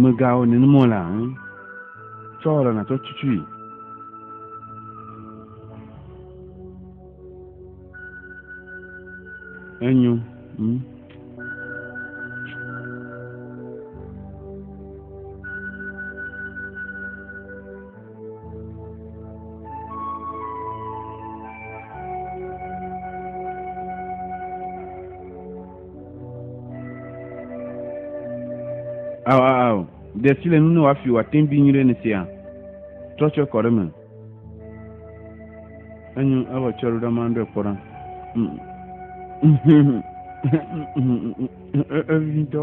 Mègawɔ nenem o la, ŋu. Tsɔ rɔ nàtsɔ tutui. Enyo. Ŋu. Ao, ao, ao, de si le nu ne wòafi wòate ŋu bi nyuie ne sia. Trɔ tsɔe kɔ ɖe me. Enyo, ewɔ tsɔe ɖo ɖa ma ɖe kpɔ ɖa. Evitɔ.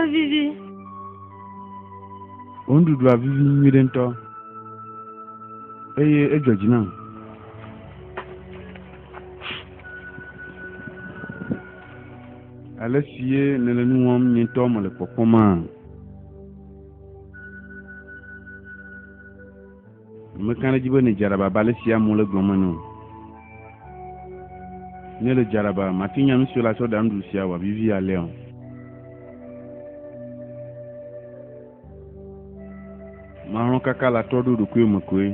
Evivi. Wò nuɖuɖua vivi nyuiɖe ŋutɔ eye edzɔ dzi nam. Ale si ye nèle nu wɔm nye ŋutɔ mele kpɔkpɔmaa? Meka ɖe edzi be ne dzaraba ba le sia mo le gblɔm ene o. Ne le dzaraba, mate nya nu si la tsɔ ɖa nuɖuɖu sia wɔ vivi alea o. Malɔ̃ kaka la trɔ ɖo ɖokuiwo me koe.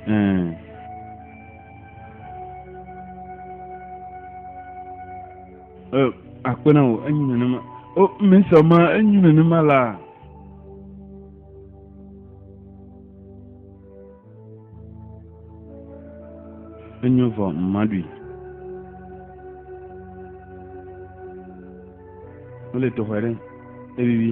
Ɛɛ. Eh, akpe na wò, enyi nenema. O, oh, mesɔ ma, enyi nenema la. Enyo vɔ, mmaɖui. Wole tɔxɔe ɖe, evivi.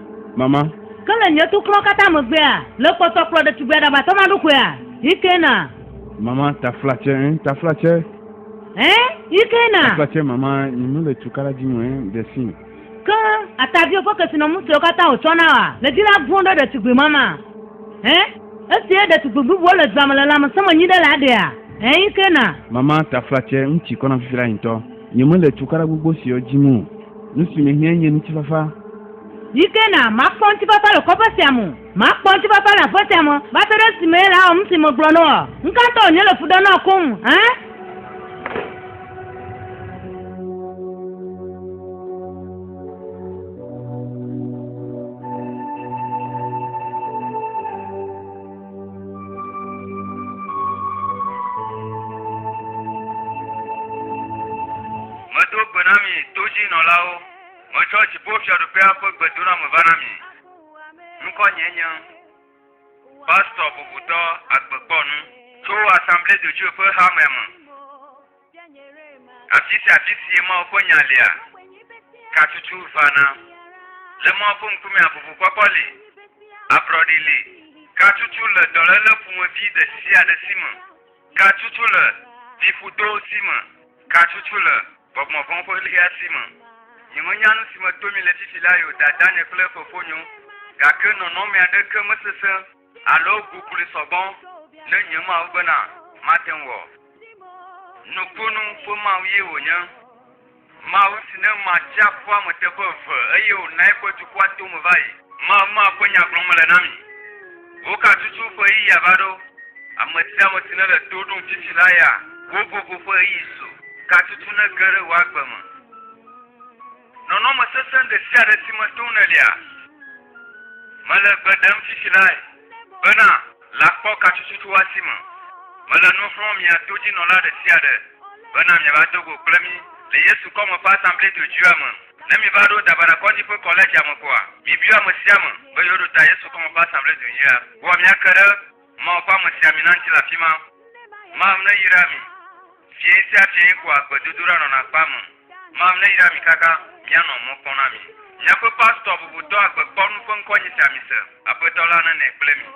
Mama. Ke le nye toklɔ katã megbea, le kpɔtɔ kplɔ ɖetugbui aɖabatɔ ma ɖokoea? Hikena. Mama, taflatse, ẽ, taflatse. Ẽ, Hikena. Taflatse, mama, nye mele tukala dim o, ẽ, ɖe si. Ke, ataviwo ƒe kesinɔmu siwo katã wòtsɔ na wòa, le dzi la vɔ̃ ɖe ɖetugbui ma ma. Ẽ, esie ɖetugbui bubuwo le dua me le lãmesẽ me nyi ɖe la ɖea? Ẽ, Hikena. Mama, taflatse, nu tsi kɔ nam fifi la yi ŋutɔ. Nye mele tukala gbogbo siwo dim o. Nu si mehiã nye ŋutifafa. Yi ke na makpɔ ŋutifafa le kɔƒe sia me o. Makpɔ ŋutifafa le aƒe sia me va se ɖe esime ele awɔ nusi megblɔ na woa? Ŋkatɔ wònye le fu ɖem na wò koŋ hã? Medo gbe na mi todzinɔlawo. Metsɔ Dziƒofiaɖuƒea ƒe gbedoɖame va na mi. Ŋkɔnyee nye Pastor Bubutɔ Agbekpɔnu. Tso Assemblee de Dieu ƒe hamea me. Afi sia afi sie Mawu ƒe Nya lia, katutu vana. Le Mawu ƒe ŋkumea, ʋuʋukpɔkpɔ li, ablɔɖi li, katutu le dɔléle ƒomevi ɖe sia ɖe si me. Gatsutsu le vifudo si me. Gatsutsu le gbɔgbɔ vɔ̃ ƒe ɣlia si me. Nyemenya nu si me to mi le fifi la yio, dadanye kple fofonyo, gake nɔnɔme aɖeke mesesẽ alo gugli sɔgbɔ ne nye Mawu bena mate ŋu wɔ. Nukunu ƒe Mawu ye wònye. Mawu si ne ma tsiaƒua me teƒe eve, eye wòna eƒe dukɔa to me va yi. Mawu ma ƒe nya gblɔm mele na mi. Woka tutu ƒe ɣeyiɣia va ɖo. Ame sia ame si nele to ɖom fifi la ya, wò vovo ƒe ɣeyiɣi su. Ka tutu nege ɖe wò agbe me. Nɔnɔme sesẽ ɖe sia ɖe si me tom nèlia, mele gbe ɖem fifi lae, bena. La kpɔ katsutsutsua si me mele nu xlɔ̃m mia todzinɔla ɖe sia ɖe bena miava do go kple mí le Yesu kɔme ƒe Asamble Dodzoea me. Ne miva ɖo Dabara Kɔdzi ƒe Kɔledzia me koa, mibiɔ ame sia ame be yewoɖo ta Yesu kɔme ƒe Asamble Dodzoea. Kpɔa míake ɖe Mawu ƒe amesiamina ŋuti le afima. Mawu neyra mi. Fiẽ sia fiẽe koa gbedodoɖa nɔna kpea me. Mawu neyra mi kaka mianɔ mɔ kpɔm na mi. Miaƒe pastor bubutɔ agbe kpɔ nu ƒe ŋkɔ nyi sia mi se. Aƒetɔ la nene kple mi.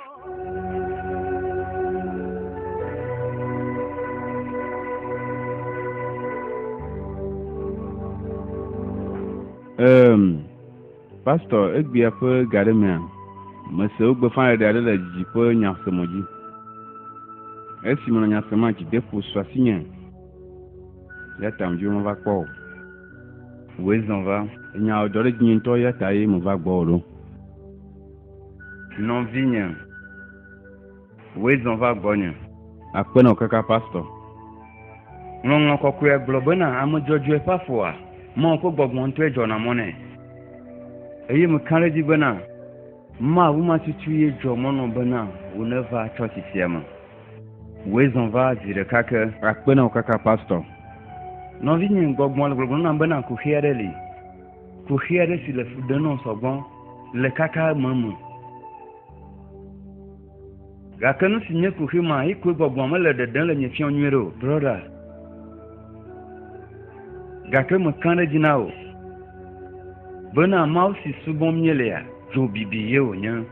Eemm. Pastor, egbea ƒe ga aɖe mea, mese wogbeƒãɖeɖe aɖe le dzidzi ƒe nyasemɔ dzi. Esi menɔ nya semea, dzideƒo su asinye, eya ta medi be mava kpɔ wò. Wòe zɔ va. Nya wòdɔ ɖe dzinye ŋutɔ, eya tae meva gbɔwò ɖo. Nɔvinye. Wòe zɔ va gbɔnye. Akpe na wò kaka Pastor. Ŋlɔŋlɔ kɔkɔea gblɔ bena ame dzɔdzɔe ƒe afɔa, Mawu ƒe gbɔgbɔ ŋutɔe dzɔna mɔ nɛ. Eye meka ɖe edzi bena Mawu ma tutu ye dzɔ mɔ nɔ bena wò nèva tsɔtsi sia me. Wòe zɔ va zi ɖeka ke. Akpe na wò kaka Pastor. Nɔvinye, gbɔgbɔ le gbɔgblɔm nam bena kuxi aɖe li. Kuxi aɖe si le fu ɖem nɔm sɔgbɔ le kaka eme me. Gake nu si nye kuxi ma, yi koe gbɔgbɔ mele ɖeɖem le nye fiɔ nyuie ɖe o. Brɔda. Gake mekã ɖe dzi na wò. Bena Mawu si subɔm míelea, dzo bibi ye wònye.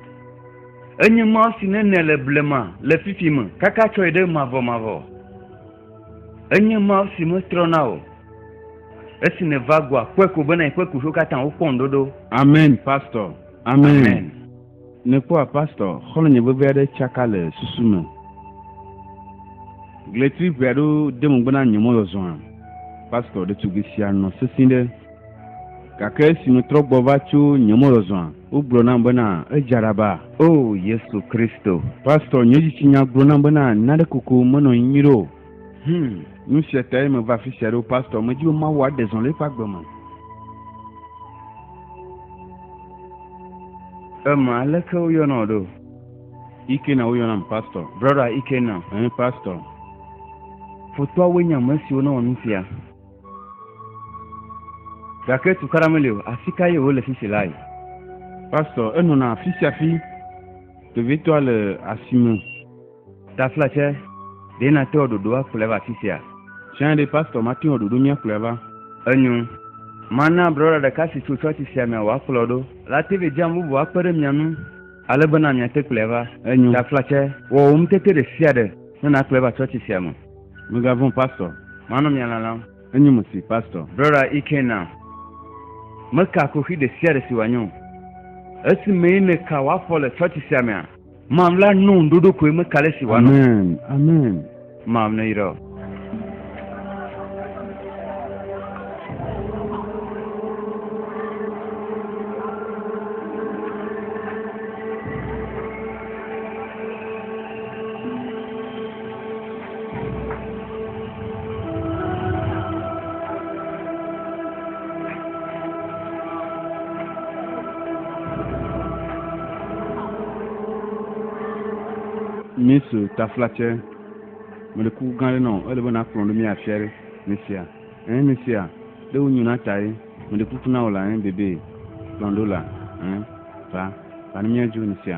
Enye Mawu si nenɛ le blema, le fifi me, kaka tsɔ yi ɖe mavɔmavɔ. Enye Mawu si metrɔ na o. Esi nèva goa, kpɔe ko bena yi ƒe kuxiwo katã wokpɔ ŋuɖoɖo. Amen, Pastor. Amen. Nekpɔa pastor, xɔlɔnye veve aɖe tsaka le susu me. Gletri ʋe aɖo de megbe na nye mɔzɔzɔa, pastor ɖetugbui sia nɔ sesĩ ɖe. Gake esi metrɔ gbɔ va tso nye mɔzɔzɔa, wogblɔ nam bena edza ɖa ba. O Yesu Kristo! Pastor, nye dzitsinya gblɔ nam bena nane koko menɔ anyi nyuiɖe o. Hmm, nu sia tae meva afi sia ɖo pastor medi be Mawu aɖe zɔ le eƒe agbe me. Ema aleke woyɔna wò ɖo? Ikena woyɔnam pastor. Brother Ikena, ɛɛ pastor. Fotoawoe nye ame siwo newɔ nu sia. Gake tukaɖa meli o, afi kae wole sisi lae? Pastor, enɔna afi sia afi, vevitɔa le asime. Taflatse, Ɖe nàte wò ɖoɖo akplɔe va afisia? Tsã ɖe Pastor mate wò ɖoɖo míakplɔe va? Enyo. Mana brɔɖa ɖeka si tso tsɔtsi sia mea wòakplɔ ɖo. La te ɖe dzam bubu akpe ɖe mia ŋu ale bena miate kplɔe va. Enyo. Taflatse, Wɔ wò ŋutete ɖe sia ɖe ne nàkplɔe va tsɔtsi sia me. Migavɔ̃, Pastor. Manɔ mia lalam. Enyo mesi, Pastor. Brɔɖa Ikenna, Meka kuxi ɖe sia ɖe si wòanye o. Esi mee nèka wò afɔ le tsɔtsi sia mea? Mam la nu ɖoɖo koe me kale si wa no. Amen. Amen. Mam ne yira. mísu taflatsɛ mele kuku gã aɖe nɔ ele be nakplɔ ɖo mí afia ɖe misia ɛn misia ɖe wonyo na ta ye mele kuku na wò la ɛn bebe kplɔ ɖo la ɛn va va ne míadzo misia.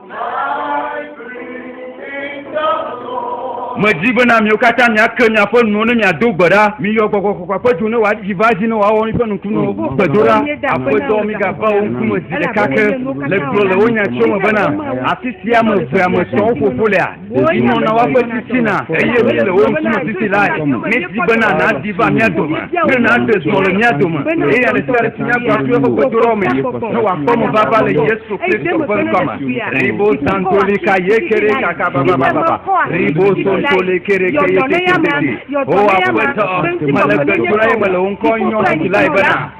Medi be na miwo katã miake miaƒe nuwo ne miado gbe ɖa. Miyɔ gbɔgbɔ kɔkɔa ƒe dzo ne wòadidi va edzi ne wòawɔ miƒe nukunuwo. Mm. Gbedo ɖa, Aƒetɔ, migava wo ŋkume zi ɖeka ke le gblɔ le wo nya tso me bena, afi sia ame evea me sɔ wo fofo lea. Ɖeviwo na woaƒe titina, eye mí le wo ŋkume titi lae. Míedi bena nàdi va mía dome, ne nàɖe dɔ le mía dome, eye ame sia ame si nya gbɔna tso eƒe gbedoɖɔ me, ne wòakpɔ mevava le Yesu Kristo ƒe ŋkɔ me. Ribo santoli ka ye kere kaka babababa, ribo sontoli kere ke ye tete tete. O Aƒetɔ, mele gbe dom ɖa eye mele wò ŋkɔ nyɔm ɖi lae bena.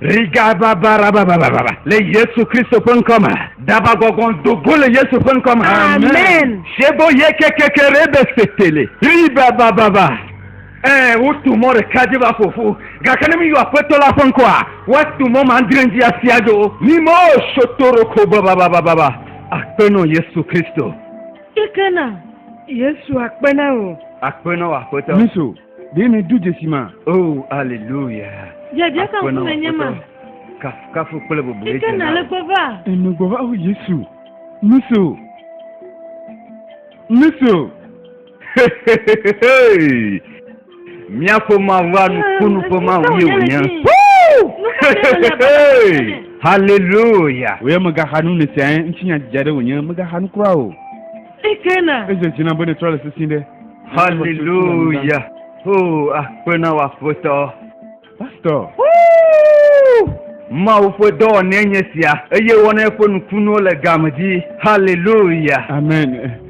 Rigababarababababa le Yesu Kristo ƒe ŋkɔ me. Dabagbɔgbɔn do go le Yesu ƒe ŋkɔ me. Amen. Sebo ye kekeke re be setele. Ribabababa. Ɛɛ wotu mɔ ɖeka dzi va ƒoƒu. Gake ne miyɔ aƒetɔ la ƒe ŋkɔa, woatu mɔ mandre dzi asi adzo. Mimɔ sotoroko bababababa. Akpenɔ Yesu Kristo. Kekena Yesu akpena o. Akpenɔ aƒetɔ. Miso. Ɖe mi du dzesi ma. Oh, aleluya. Biabia ka ŋkume nye ma. Kafukafu kple bobue dze na. Ike na le gbɔva. Enu gbɔva o Yesu. Nuso. Nuso. Míaƒe mawu anukunu ƒe mawu ye wònye. Haleluya. Wòye megaxa nu ne sia ŋuti nya didi aɖe wònye megaxa nu kura o. Ezeti na be ne trɔ le sisi ɖe. Hallelujah. Oh, akpe na w'aƒetɔ. Pastor. Mawu ƒe dɔwɔnɛ nye sia eye wɔna eƒe nukunuwo le game dzi. Hallelujah. Amen.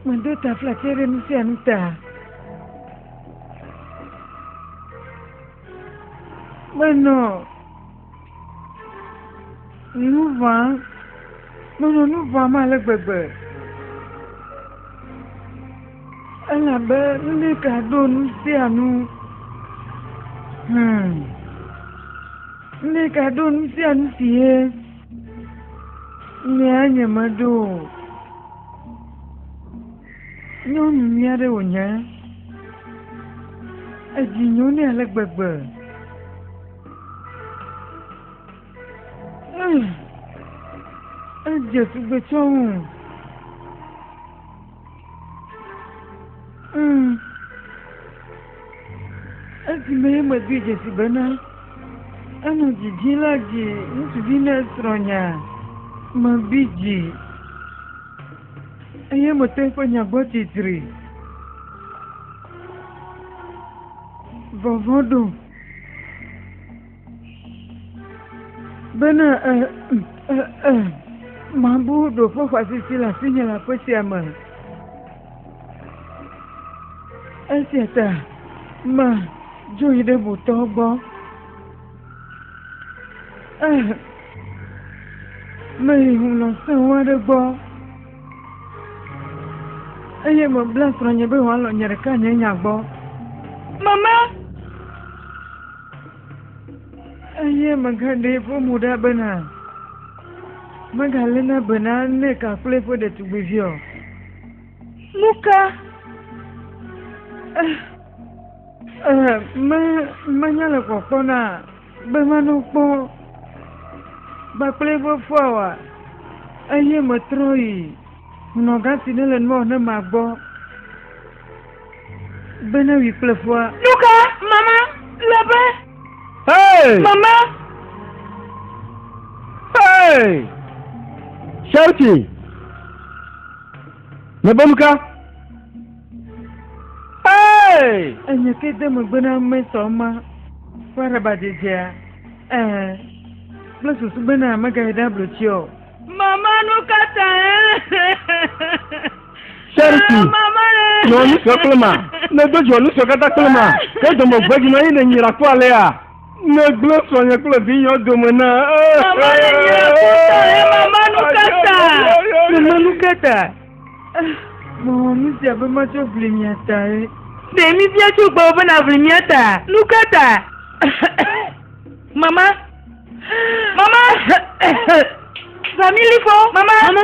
Meɖo taflatse ɖe nu sia nu ta. Menɔ nu ʋãm. Menɔ nu ʋãm ale gbegbe. Elabe Rebeka ɖo nu sia nu. Hmm. Rebeka ɖo nu sia nu si ye. Nya nyemeɖo o. Nyɔnu nyui aɖe wònye. Edzi nyo nɛ ale gbegbe. Edze tugbe tsɔ ŋu. Mm. Esimee medoe dzesi bena enɔ didi la dzi ŋutsuvi ne srɔ̃nya mebi dzi eye mete eƒe nya gbɔ titri. Vɔvɔ̃ ɖom. Bene eh, eh, eh, mabu ɖo ƒe xɔasisi le asinye le aƒe sia me. Esia ta ma dzo yi ɖe botɔ gbɔ. Eh, meyi hunɔ sẽŋu aɖe gbɔ eye mebla srɔ̃nye be wòalɔ nye ɖeka nye nya gbɔ. Mama! Eye megaɖee ƒe mo ɖa bena megaléna be na Nick kple eƒe ɖetugbivi o. Nuka? Eh, eh, me, menya le kpɔkpɔ na be manɔ kpɔ kpakple eƒe foa wa. Eye metrɔ yi nɔgã si nele nua ne ma gbɔ. Bene wi kple fua. Nuka mama le be. Hey! Mama. Hey! Shouting. Me be nuka. Hey! Enye ke de megbe na ame sɔ ma. Fua ɖe ba dzedzea. Eh. Kple susu bena megayi ɖe ablo tsi o. Mama nuka ta eh? Sɛrisi, nɔ nu sɔ kple ma, ne do dzɔ nu sɔ katã kple ma, ke dɔmɔ gbedzi nɔ yi ne nyira kpɔ alea. Ne gblẽ sɔ nye kple vi nyɔ dome na. Mama le nye kutɔ he mama nu kata. Mama nu kata. Mɔ nu sia be ma tsɔ vli mia ta he. Ɖe mi bia tso gbɔ be na vli mia ta. Nu kata. Mama. Mama. Family fɔ. Mama. Mama.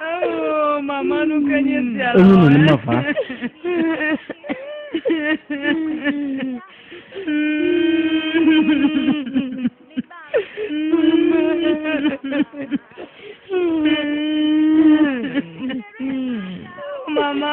Oh, mama nu ke nye sia. Enu nu ma va. Mama.